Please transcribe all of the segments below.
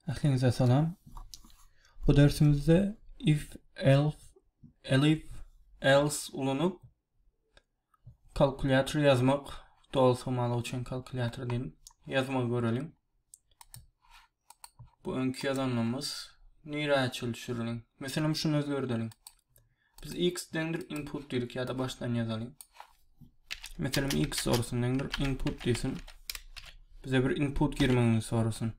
Ähliňize salam. Bu dersimizde if, elf, elif, else ulanyp kalkulýator ýazmak dolsamalyk üçin kalkulýator diýip ýazmagy göreliň. Bu öňki ýazanymyz nirä çelişirin. Meselem şunu özgerdeliň. Biz x deňdir input diýdik ýa-da başdan ýazalyň. Meselem x sorusyn deňdir input diýsin. Bize bir input girmegini sorasyn.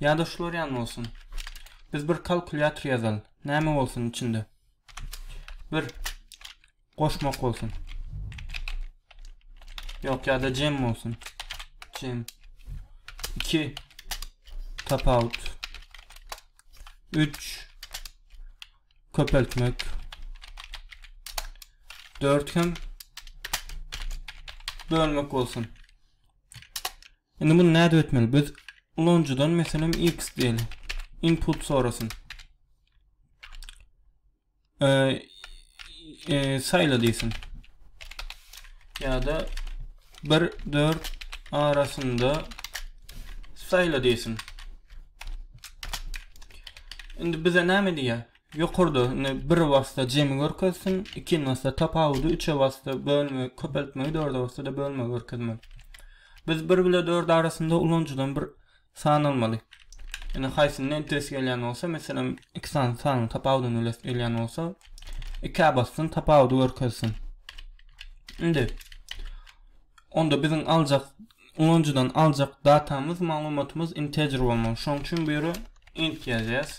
Ýa-da şular ýan bolsun. Biz bir kalkulýator ýazalyň. Näme bolsun içinde? Bir goşmak bolsun. Ýok, ýa-da jem bolsun. Jem. 2 tapawut. 3 köpeltmek dört hem bölmek bolsun. Indi bunu näde etmeli? Biz ulanyjydan meselem x diýeli. Input sorasyn. Ee, e, sayla diýsin. Ya da 1 4 arasynda saýla diýsin. Indi bize näme diýýär? Ýokarda indi bir wasta jemi görkezsin, ikinji wasta tapawudy, üçe wasta bölme, köpeltmegi, dörde wasta da bölme görkezmeli. Biz 1 bile 4 arasynda ulanyjydan bir Sanalmaly. Ine haýsyny hem ters gelýän bolsa, meselem, iki sany sanyň tapawudyny bilesi gelýän bolsa, ikä bassyn, tapawudy görkezsin. Indi onda biziň aljak ulanyjydan aljak datamyz, maglumatymyz integer bolmaly. Şonuň üçin bu ýere int ýazýas.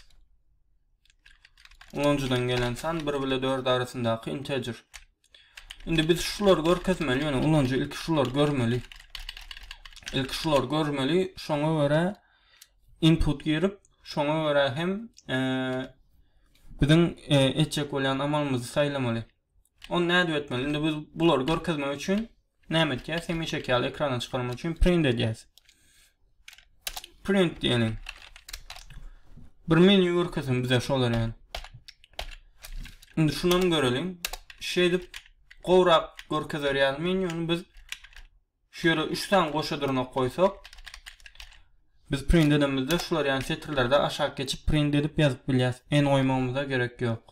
Ulanyjydan gelen san 1 bile 4 arasyndaky integer. Indi biz şulary görkezmeli, ýöne ulanyjy ilki şulary görmeli. Ilki şulary görmeli, şoňa görä input girip, şoňa görä hem e, biziň e, etjek bolýan amalymyzy saýlamaly. Onu nädip etmeli? Indi biz bulary görkezmek üçin Näme etýäs? Hemişeki ýaly ekrana çykarmak üçin print edýäs. Print diýelim. Bir menýu görkezsin bize şolar ýaly. Indi şundan göreliň. Şeýdip gowrak görkezer ýaly menýuny biz şu ýere 3 sany goşa dyrnak goýsak biz print edemizde şular ýaly setirlerde aşak geçip print edip ýazyp bilýäs. En goýmagymyza gerek ýok.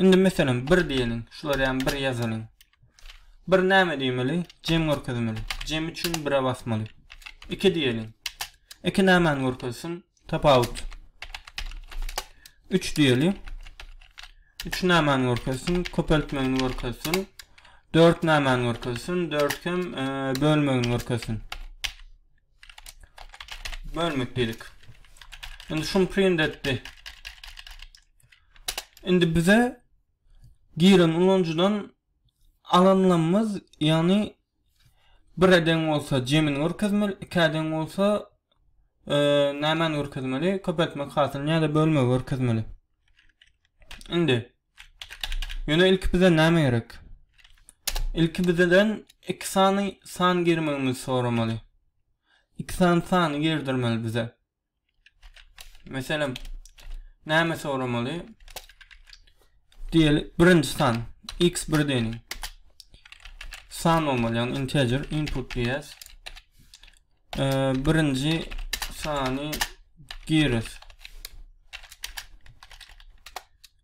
Indi meselem bir diýeliň, şular ýaly bir ýazalyň. Bir näme diýmeli? Jem görkezmeli. Jem üçin bire basmaly. Iki diýeliň. Iki nämäni görkezsin? Tapawut. Üç diýeli. Üç nämäni görkezsin? Köpeltmegini görkezsin. Dört nämäni görkezsin? Dört hem e, bölmegini görkezsin. Bölmek diýdik. Indi şuny print etdi. Indi bize giren ulanyjydan alanlamyz, ýagny bire deň bolsa jemini görkezmeli, ikä deň bolsa nämäni görkezmeli, köpeltmek hasylyny ýa-da bölmegi görkezmeli. Indi ýöne ilki bize näme gerek? Ilki bizeden iki sany san girmegimizi soramaly. İki sany sany girdirmeli bize. Meselem, näme soramaly? Diýeli, birinji san x birden san olmaly, ýagny integer input diýýäs. Birinji sany giris.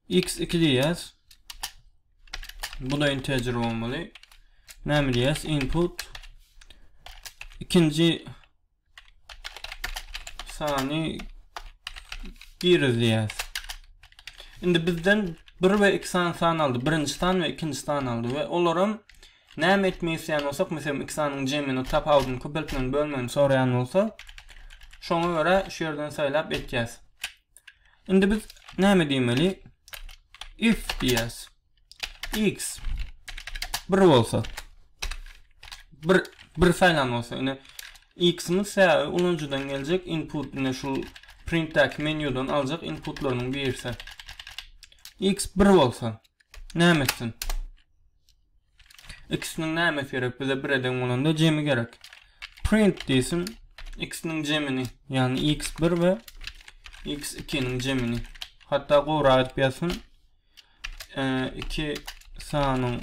x 2 diýýäs. Bu da integer olmaly. Näme diýýäs? Input ikinji sany girizýäs. Indi bizden 1 we 2 sany san aldy. Birinji san we ikinji san aldy we olaram näme etmek isleýän bolsak, meselem 2 sanyň jemini tapawudyny köpeltmegini bölmegini soraýan bolsa, şoňa görä şu ýerden saýlap etýäs. Indi biz näme diýmeli? If diýýäs. x 1 bolsa 1 1 saýlan bolsa ine x-imiz sebäbi ulanyjydan geljek input ine şu printdäki menýudan aljak inputlarynyň birisi x 1 bolsa näme etsin x-niň nämesi gerek bize 1 eden bolanda jemi gerek print diýsin x-niň jemini ýagny x 1 we x 2-niň jemini hatda gowrak edip ýazsyn iki sanyň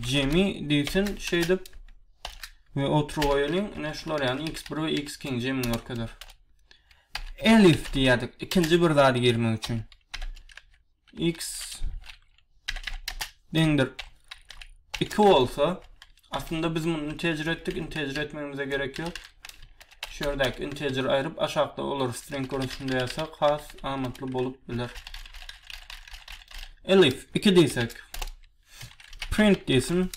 jemi diýsin şeýdip we oturyp goýalyň. Ine şular ýaly x1 we x2-iň jemini görkezer. Elif diýýärdik ikinji bir zady girmek üçin. x deňdir 2 bolsa Aslynda biz muny integer etdik, integer etmegimize gerek ýok. Şu ýerdäki integer aýryp aşakda olar string görnüşinde ýazsak has amatly bolup biler. Elif 2 diýsek. Print diýsin.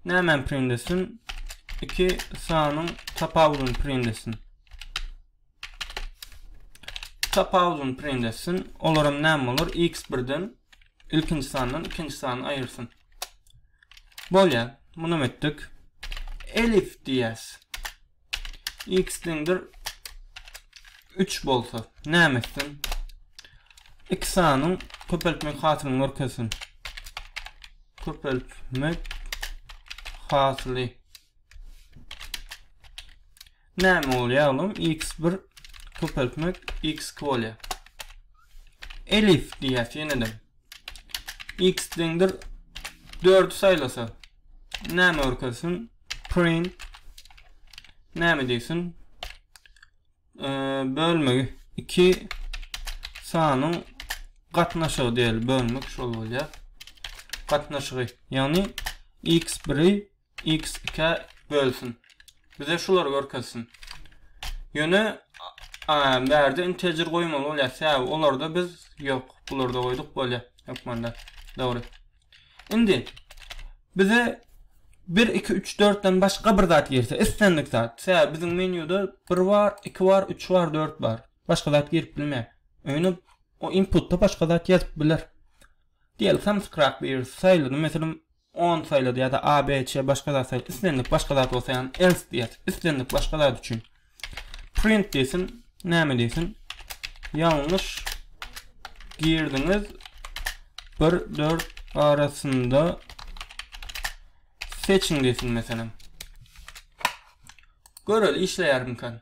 Näme print etsin? 2 sanyň tapawudyny print etsin. Tapawudyny print etsin. Olaram näme bolar? X birden ilkinji sandan ikinji sany aýyrsyn. Bolýar. Muny etdik. Elif diýäs. X deňdir 3 bolsa näme etsin? İki sanyň köpeltmek hasylyny görkezsin. Köpeltmek hasyly. Näme bolýar oglum x bir köpeltmek x iki bolýar. Elif diýýäs ýenede. X deňdir 4 saýlasa. Näme görkezsin? Print. Näme diýsin? Ee, bölmegi 2 sanyň gatnaşygy diýeli. Bölmek şol bolýar. Gatnaşygy. Ýagny x1-i X ikä bölsün. Bize şulary görkezsin. Ýöne a bärde integer goýmaly bolýar. Sebäbi olarda biz ýok. Bularda goýduk bolýar. Hökmanda. Dogry. Indi bize 1 2 3 4 den başga bir zat girse, islendik zat. Sebäbi biziň menýuda 1 bar, 2 bar, 3 bar, 4 bar. Başga zat girip bilmeýär. Öýne o inputda başga zat ýazyp biler. Diýeli samskrak bir saýlady. Meselem, on saýlady ýa-da a, b, ç, başga zat saýlady, islendik başga zat bolsa ýagny else diýýär, islendik başga zat üçin print diýsin, näme diýsin, ýalňyş girdiňiz bir dört arasynda seçiň diýsin meselem. Göreli işleýärmikä?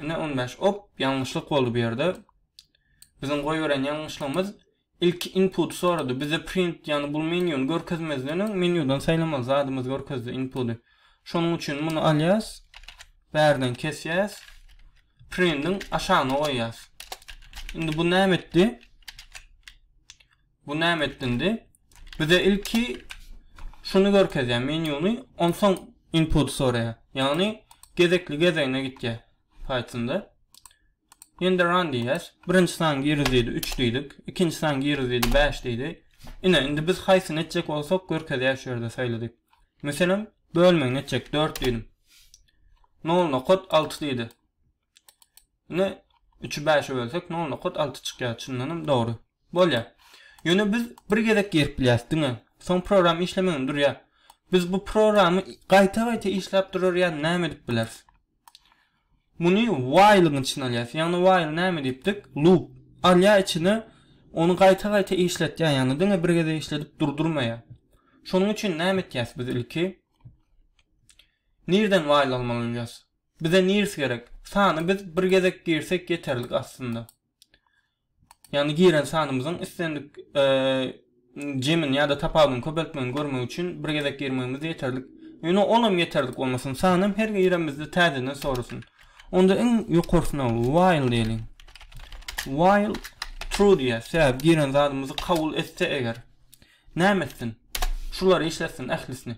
Ine 15. Op, ýalňyşlyk boldy bu ýerde. Biziň goýberen ýalňyşlygymyz ilki input sorady. Bizde print, ýagny bu menýuny görkezmezden öň menýudan saýlamaly zadymyz görkezdi inputy. Şonuň üçin muny alýas. Bärden kesýäs. Printiň aşagyna goýýas. Indi bu näme etdi? Bu näme etdindi? Bize ilki şuny görkezýär, menyuny, onsoň input soraýar. Ýagny gezekli gezegine gitýär Pythonda. Ýene-de run diýýäs. Birinji sany giriz diýdi, 3 diýdik. Ikinji sany giriz diýdi, 5 diýdi. Ine, indi biz haýsyny etjek bolsak, görkezýär şu ýerde saýladyk. Meselem, bölmegini etjek, 4 diýdim. Nol nokot alty diýdi. Indi 3-i 5-e bölsek nol nokat alty çykýar. Çyndanam dogry. Bolýar. Ýöne biz bir gezek girip bilýäs diňe. Soň program işlemegini durýar. Biz bu programy gaýta-gaýta işläp durarýan näme edip bileris? Muny while-yň içine alýas. Ýagny while näme diýipdik? Loop. Alýar içine ony gaýta-gaýta işletýär. Ýagny diňe bir gezek işledip durdurmaýar. Şonuň üçin näme etýäs biz ilki? Nirden while almaly bolýas? Bize nirs gerek. Sany biz bir gezek girsek ýeterlik aslynda. Ýagny giren sanymyzyň islendik jemini ýa-da tapawudyny köpeltmegini görmek üçin bir gezek girmegimiz ýeterlik. Ýöne onam ýeterlik bolmasyn. Sanam her giremizde täzeden sorasyn. Onda iň ýokarsyna while diýeliň. While true diýýäs. Sebäbi giren zadymyzy kabul etse eger. Näme etsin? Şulary işletsin ählisini.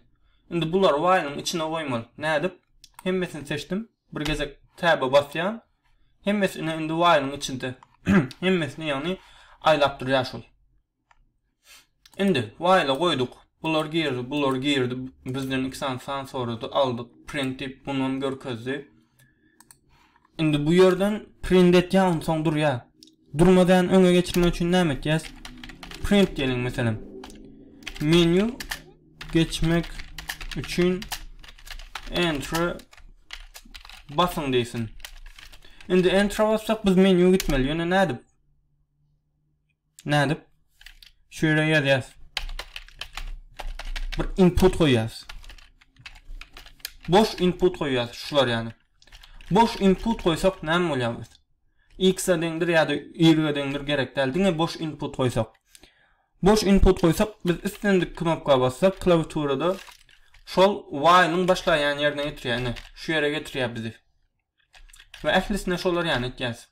Indi bulary waylyň içine goýmaly. Nädip? Hemmesini seçdim. Bir gezek Tab'a basýan. Hemmesi ine indi waylyň içinde. Hemmesini ýagny aýlap durýar şol. Indi wayla goýduk. Bular girdi, bular girdi. Bizden iki sany san sorady. Aldyk. Print diýip bunu hem görkezdi. Indi bu ýerden print etýär, onsoň durýar. Durmadan öňe geçirmek üçin näme etýäs? Print diýelim meselem. Menü geçmek üçin enter basyň diýsin. Indi enter bassak biz menü gitmeli. Ýöne nädip? Nädip? Şu ýere ýazýas. Bir input goýýas. Boş input goýýas, şular ýaly. Boş input goýsak näme bolýar biz? X-a deňdir ýa-da Y-a deňdir gerek däl. Diňe boş input goýsak. Boş input goýsak, biz islendik knopka bassak, klawiaturada şol while-yň başlaýan ýerine getirýär. Ine, şu ýere getirýär bizi. We ählisine şolar ýany etýäs.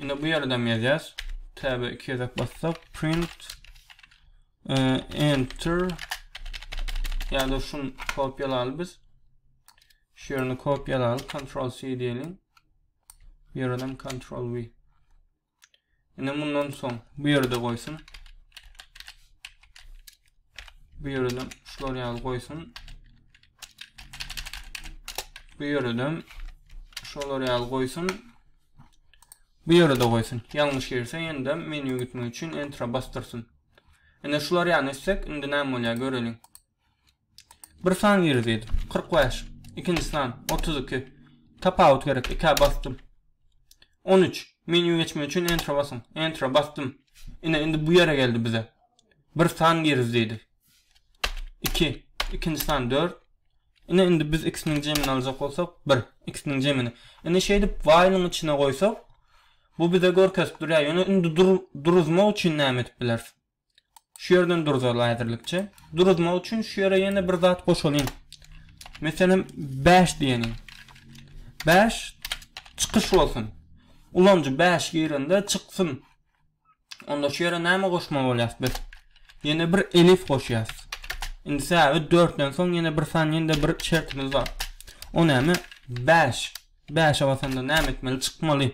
Indi bu ýerde hem ýazýas. Tab 2 gezek bassak print e, enter ýa-da şun kopýalaly biz. Şu ýerini kopýalaly, Ctrl C diýelim. Bu ýerden Ctrl V. Indi mundan soň bu ýerde goýsun. Bu ýerde şular ýaly goýsun. Bu ýerde şolar ýaly goýsun. Bu ýerde goýsun. Ýalňyş girse ýene-de menýu gitmek üçin entra basdyrsyn. Indi şular ýaly etsek, indi näme bolýar göreliň. Bir san gir diýdi. Kyrk bäş. Ikinji san. Otuz iki. Tapawut gerek. Ikä basdym. On üç. Menýu geçmek üçin Enter basyň. Enter basdym. Ine, indi bu ýere geldi bize. Bir san gir diýdi. Iki. Ikinji san. Dört. Ine, indi biz ikisiniň jemini aljak bolsak, bir. Ikisiniň jemini. Ine, şeýdip, while-yň içine goýsak, bu bize görkezip durýar. Ýöne indi duruzmak üçin näme edip bileris? Şu ýerden duruzal häzirlikçe. Duruzmak üçin şu ýere ýene bir zat goşalyň. Meselem 5 diýeniň. 5 çykyş bolsun. Ulanyjy 5 girende çyksyn. Onda şu ýere näme goşmaly bolýar biz? Ýene bir elif goşýar. Indi säbit 4-den soň ýene bir san ýene bir şertimiz bar. O näme? 5. Bäşe basanda näme etmeli çykmaly?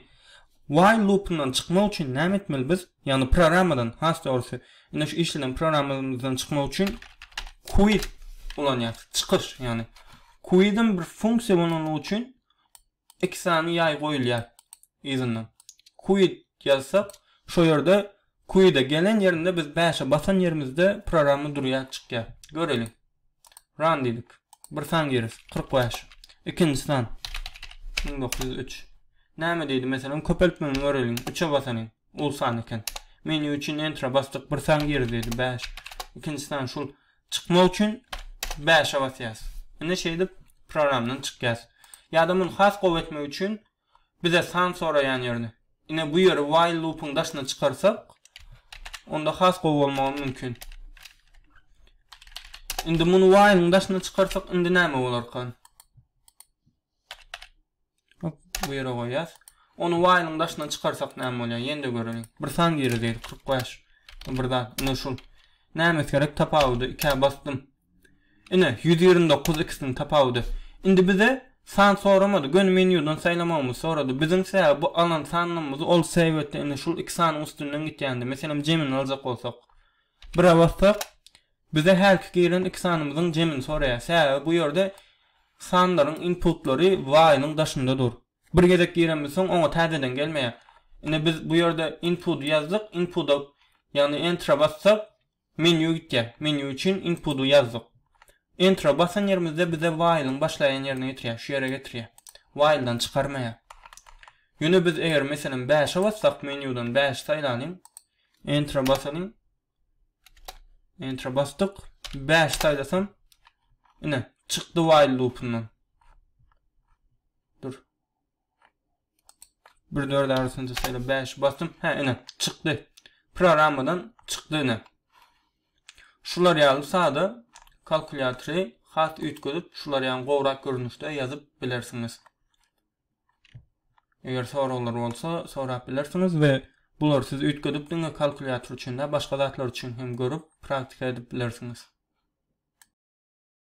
While lupyndan çykmak üçin näme etmeli biz? Ýagny programmadan, has dogrusy, ine şu işleden programmamyzdan çykmak üçin quit ulanýarys, çykyş ýagny. Quit-em bir funksiýa bolanlygy üçin iki sany ýaý goýulýar yzyndan. Quit ýazsak, şo ýerde Queue'da gelen ýerinde biz bäşe basan ýerimizde programma durýar çykýar. Göreliň. Run diýdik. Bir san gireris. Kyrk bäş. Ikinji san. Müň dokuz ýüz üç. Näme diýdi meselem köpeltmegini göreliň. Üçe basanyň. Uly san eken. Menýu üçin Enter-a basdyk. Bir san giriz diýdi. Bäş. Ikinji san şul. Çykmak üçin bäşe basýas. Indi şeýdip programdan çykýas. Ýa-da muny has gowy etmek üçin Bize san soraýan ýerine. Ine bu ýeri while loop-yň daşyna çykarsak, onda has gowy bolmagy mümkin. Indi muny while-yň daşyna çykarsak, indi näme bolarkan? Hop, bu ýere goýýas. Ony while-yň daşyna çykarsak näme bolýar? Ýene-de göreliň. Bir san girdi, 45. Bir zat, indi şul. Näme gerek? Tapawudy ikä basdym. Ine, ýüz ýigrimi dokuz ikisiniň tapawudy. Indi bize san soramady, göni menýudan saýlamagymyzy sorady. Biziň sebäbi bu alan sanlarymyzy ol sebetde indi şul iki sanyň üstünden gitýändi. Meselem, jemini aljak bolsak. Bire bassak, bize hälki giren iki sanymyzyň jemini soraýar. Sebäbi bu ýerde sanlaryň inputlary while-yň daşynda dur. Bir gezek girenimiz soň oňa täzeden gelmeýär. Indi biz bu ýerde input ýazdyk, inpuda, ýagny enter-a bassak, Menýu gitýär. Menýu üçin inputy ýazdyk. Enter-a basan ýerimizde bize while-iň başlaýan ýerine getirýär, şu ýere getirýär. While-dan çykarmaýar. Ýöne biz eger meselem bäşe bassak, menýudan bäşi saýlalyň. Enter-a basalyň. Enter-a basdyk. Bäşi saýlasam, ine, çykdy while lupyndan. Dur. Bir dört arasynda şeýle bäş basym. Hä, ine, çykdy. Programmadan çykdy ine. Şular ýaly sada kalkulýatory has üýtgedip, şular ýaly gowrak görnüşde ýazyp bilersiňiz. Eger soraglar bolsa, sorap bilersiňiz we bular siz üýtgedip diňe kalkulýator üçin-de, başga zatlar üçin hem görüp, praktika edip bilersiňiz.